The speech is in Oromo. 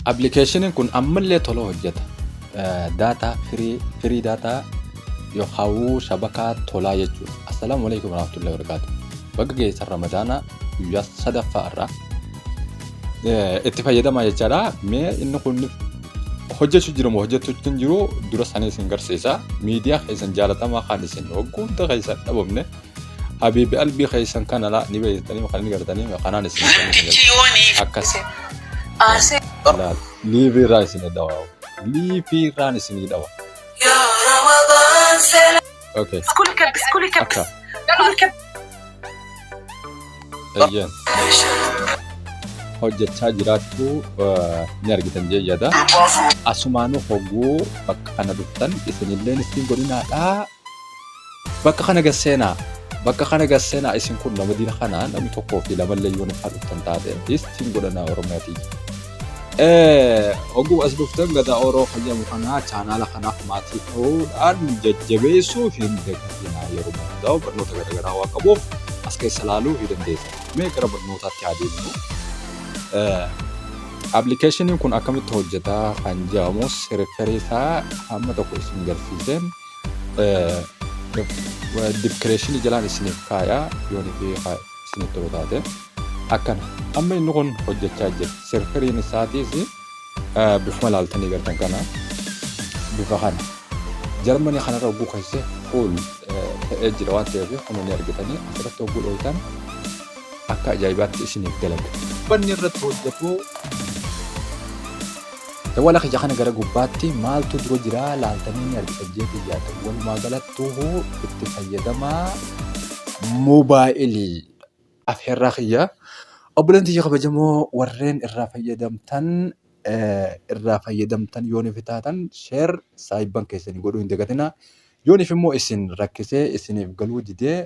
Appilikeeshiniin kun ammallee tola hojjeta. Daataa firii firii daataa yookaan shabakaa tolaa jechuudha. Assalaamu alaikum warahmatullahi wabarakatuh. Bakka geessan Ramadaanaa guyyaa sadaffaa irraa itti fayyadamaa jechaadha. Mee inni kun hojjechuu jiru moo hojjechuu hin jiru dura sanii isin garsiisa. Miidiyaa keessan jaalatamaa kan isin hogguutti keessan dhabamne Habibi albi keessan kana la ni beektanii kan ni gartanii kanaan isin akkas laal liivi irraa isin dhawa liivi irraan isin dhawa okay akka eeyyeen hojjechaa jiraachuu eh, ni argitan jee yada asumaanuu hogguu bakka kana dhuftan isinilleen ittiin godhinaadhaa Bakka kana gad seenaa. Bakka kana gad seenaa isin kun nama dina kana namni tokkoo fi lama illee yoon ifaa dhuftan taate istiin godhanaa Oromiyaa tiyya. Eh, Oguu as dhuftan gadaa Oroo fayyamu kana chaanaala kanaaf maatii ta'uudhaan jajjabeessuu hin dagatinaa yeroo hundaa'u barnoota garaagaraa waan qabuuf as keessa ilaaluu ni dandeessan. Mee gara barnootaatti haa deemnu. Eh, Appilikeeshiniin kun akkamitti hojjetaa kan jedhamus riferii isaa hamma tokko isin garsiiseen dibkireeshinii jalaan isiniif kaayaa yoon fi isiniif tolu taate akkana amma inni kun hojjechaa jira sirfiriin isaatiis bifuma laaltanii gartan kana bifa kana jarmanii kanarra oguu keessa fuul ta'ee jira waan ta'eef kun ni argitanii asirratti oguu dhooytan akka ajaa'ibaatti isiniif dalaga. Banni irratti hojjetu Dawwala kiyya kana gara gubbaatti maaltu dura jira laaltanii ni argitan jeetii yaada. Walumaa galattuu itti fayyadamaa moobaayilii afeerraa kiyya. Obboleen tiyya kabajamoo warreen irraa fayyadamtan irraa fayyadamtan yoo nuuf taatan sheer saayibban keessanii godhuu hin dagatinaa. Yoo nuuf immoo isin rakkisee isiniif galuu didee